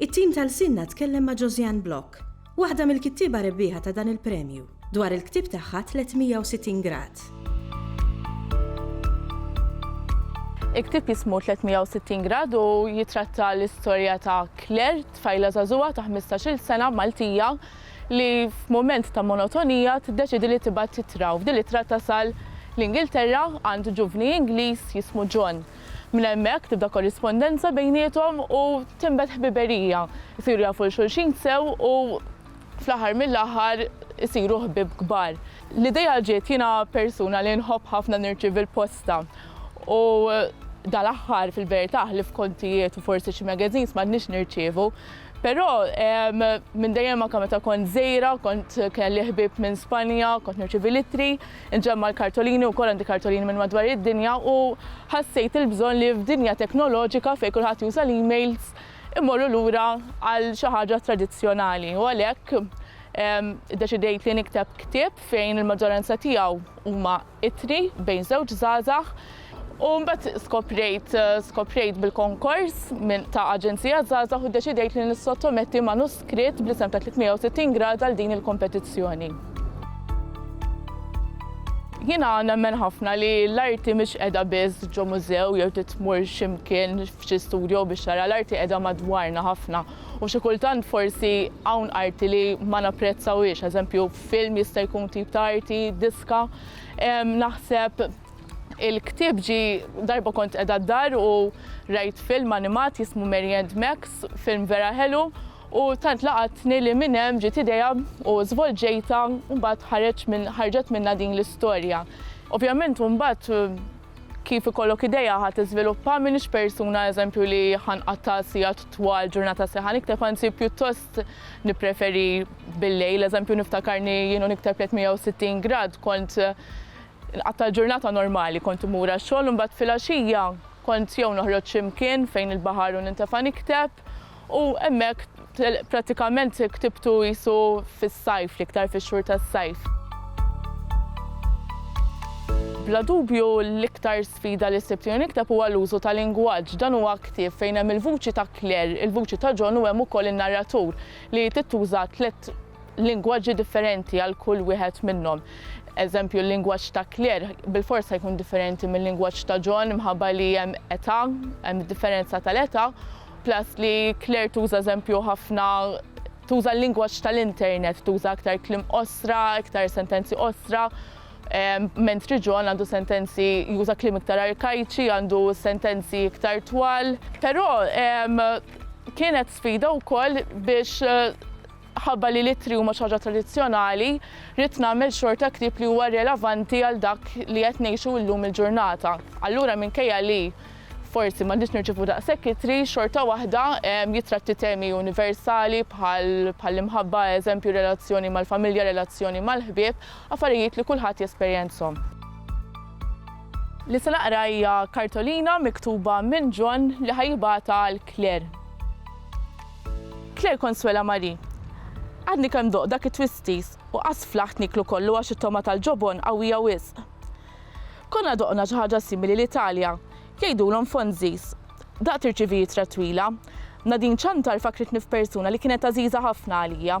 It-tim ta' Lsienna tkellem ma' Josiane Block, waħda mill-kittieba rebbieħa ta' dan il-premju, dwar il-ktieb tagħha 360 Grad. Il-ktieb jismu 360 Grad u jittratta l-istorja ta' Claire, tfajla żagħżugħa ta' ħmistax-il sena Maltija li f'mument ta' monotonija tiddeċiedi li tibgħat ittra u f'din l-ittra tasal l-Ingilterra għand ġuvni Ingliż jismu John. Minn hemmhekk tibda korrispondenza bejniethom u tinbet ħbiberija. Isiru jafu 'l xulxin sew u fl-aħħar mill-aħħar isiru ħbieb kbar. L-idea ġiet, jiena persuna li nħobb ħafna nirċievi l-posta u dal-aħħar fil-verità ħlief kontijiet u forsi xi magazines m'għadniex nirċievu. Però minn dejjem anke meta kont żgħira kont kelli ħbieb minn Spanja, kont nirċievi l-ittri. Inġemma' l-kartolini u wkoll għandi kartolini minn madwar id-dinja u ħassejt il-bżonn li f'dinja teknoloġika fejn kulħadd juża l-emails immorru lura għal xi ħaġa tradizzjonali u għalhekk iddeċidejt li nikteb ktieb fejn il-maġġoranza tiegħu huma ittri bejn żewġ żgħażagħ U mbagħad skoprejt skoprejt bil-konkors minn ta' Aġenzija Żgħażagħ u ddeċidejt li nissottometti manuskritt bl-isem ta' 360 Grad għal din il-kompetizzjoni. Jiena nemmen ħafna li l-arti mhix qiegħda biss ġo mużew jew titmur xi mkien f'xi studio biex tara l-arti qiegħda madwarna ħafna u xi kultant forsi hawn arti li ma napprezzawhiex, eżempju film jista' jkun tip ta' arti, diska, naħseb Il-ktieb ġie darba kont qiegħda d-dar u rajt film animat jismu Mary and Max, film vera ħelu u tant laqatni li minn hemm ġiet idea u żvolġejtha u mbagħad ħareġ minn ħarġet minnha din l-istorja. Ovvjament u mbagħad kif ikollok idea ħa tiżviluppa m'iniex persuna eżempju li ħanqatta' sigħat twal ġurnata sħiħa nikteb anzi pjuttost nippreferi bil-lejl eżempju niftakarni jien u nikteb 360 grad kont Inqatta' l-ġurnata normali, kont immur għax-xogħol u mbagħad filgħaxija kont jew noħroġ xi mkien fejn il-baħar u nintefa' nikteb u hemmhekk prattikament ktibtu qisu fis-sajf, l-iktar fix-xhur tas-sajf. Bla dubju l-iktar sfida li sibt jiena nikteb huwa l-użu ta' lingwaġġ. Dan huwa ktieb fejn hemm il-vuċi ta' Claire, il-vuċi ta' John u hemm ukoll in-narratur li trid tuża tliet lingwaġġi differenti għal kull wieħed minnhom. Eżempju, l-lingwaġġ ta' Claire bil-fors se jkun differenti mill-lingwaġġ ta' John minħabba li hemm età, hemm differenza tal-età, plus li Claire tuża eżempju ħafna tuża l-lingwaġġ tal-internet, tuża aktar klim osra, aktar sentenzi osra, mentri John għandu sentenzi juża klim iktar arkajċi, għandu sentenzi iktar twal. Però kienet sfida wkoll biex eh, Ħabba li l-ittri huma xi ħaġa tradizzjonali, ridt nagħmel xorta ktieb li huwa relevanti għal dak li qed ngħixu illum il-ġurnata. Allura minkejja li forsi m'għandniex nirċievu daqshekk ittri, xorta waħda jittratti temi universali bħal bħall-imħabba, eżempju relazzjoni mal-familja, relazzjoni mal-ħbieb, affarijiet li kulħadd jesperjenzhom. Li se naqra hija kartolina miktuba minn John li ħa jibgħatha għal Claire. Claire Consuela Marie, Għadni kemm doqt dak it-twisties u qass flaħt nieklu kollu għax it-togħma tal-ġobon qawwija wisq. Konna doqna xi ħaġa simili l-Italja, jgħidulhom fonzies. Daqt irċivijitra twila. Nadine Ciantar fakkritni f'persuna li kienet għażiża ħafna għalija.